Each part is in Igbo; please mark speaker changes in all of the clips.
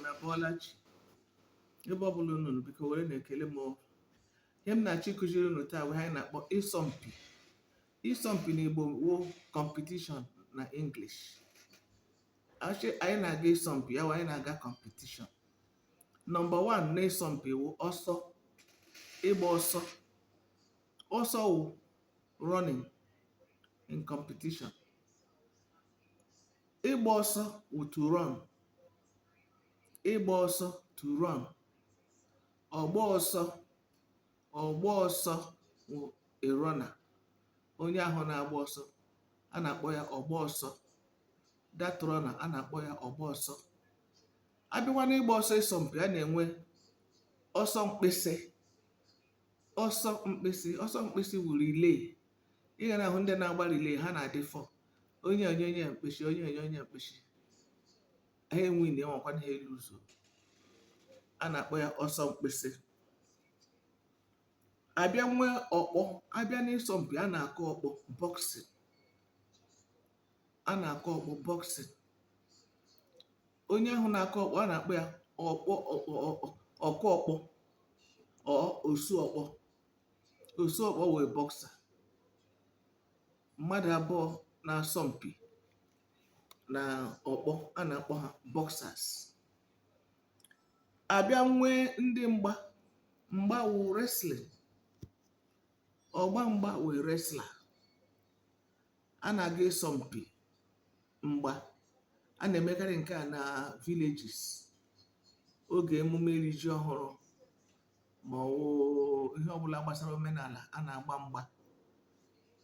Speaker 1: na bọọla chi ebe ọ bụla unu nọ, biko werenụ ekele m o. ihe m na-achọ ịkụziri unu taa wụ ihe anyị na-akpọ ịsọmpi ịsọmpi na igbo wụ competition na english A chị anyị na-aga ịsọmpi ya wụ anyị na-aga competition number one na ịsọmpi wụ ọsọ ịgba ọsọ ọsọ wụ running in competition ịgba ọsọ wụ to run ịgba ọsọ to run ọgba ọsọ ọgba ọsọ wụ a runner onye ahụ na-agba ọsọ a na-akpọ ya ọgba ọsọ that runner a na-akpọ ya ọgba ọsọ abịakwa n'ịgba ọsọ ịsọmpi a na-enwe ọsọ mkpịsị ọsọ mkpịsị ọsọ mkpịsị wụ relay ị ga na-ahụ ndị na-agba relay ha na-adị four onye enye onye a mkpịsị onye enye onye a mkpịsị ha enwe na enwekwa ha elu ụzọ a na-akpọ ya ọsọ mkpịsị abịa nwee ọkpọ abịa n'ịsọmpi a na-akụ ọkpọ boxing a na-akụ ọkpọ boxing onye ahụ na-akụ ọkpọ a na-akpọ ya ọkụ ọkpọ or osu ọkpọ Osu ọkpọ wụ a boxer. Mmadụ abụọ na-asọ mpi na ọkpọ a na-akpọ ha boxers. Abịa nwee ndị mgba mgba wụ wrestling. Ọgba mgba wụ a wrestler. A na-aga ịsọ mpi mgba. A na-emekarị nke a na villages oge emume iri ji ọhụrụ. ma ọ wụ ihe ọbụla gbasara omenala a na-agba mgba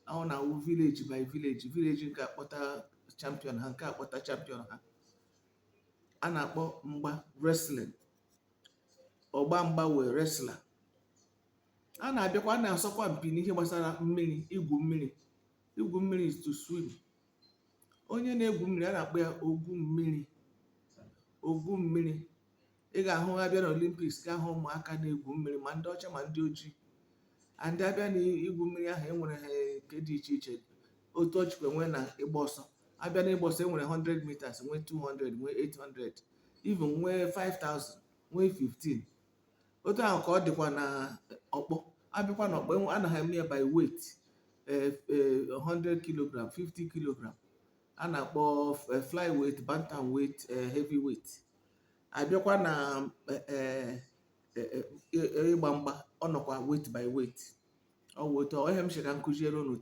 Speaker 1: ọ na-awụ village by village village nke a kpọta champion ha nke a kpọta champion ha a na-akpọ mgba wrestling ọgba mgba wụ a wrestler a na-abịakwa a na-asọkwa mpi n'ihe gbasara mmiri igwu mmiri igwu mmiri is to swim onye na-egwu mmiri a na-akpọ ya ogwu mmiri ogwu mmiri ị ga-ahụ ha abịa na Olympics ga-ahụ ụmụaka na-egwu mmiri ma ndị ọcha ma ndị ojii and abịa na igwu mmiri ahụ enwere ha nke dị iche iche otu o chikwa nwee na ịgba ọsọ abịa na ịgba ọsọ enwere 100 meters nwee 200 nwee 800 even nwee 5000 nwee 15 otu ahụ ka ọ dịkwa na ọkpọ abịakwa na ọkpọ enwe- ana ha eme ya by weight eh, eh, 100 kilogram 50 kilogram a na-akpọ eh, fly weight bantam weight eh, heavy weight abịakwa na eh, eh, eh, eh, ịgba mgba ọ nọkwa weight by weight ọ wụ otu ọ ihe m sị ka m kụziere unu taa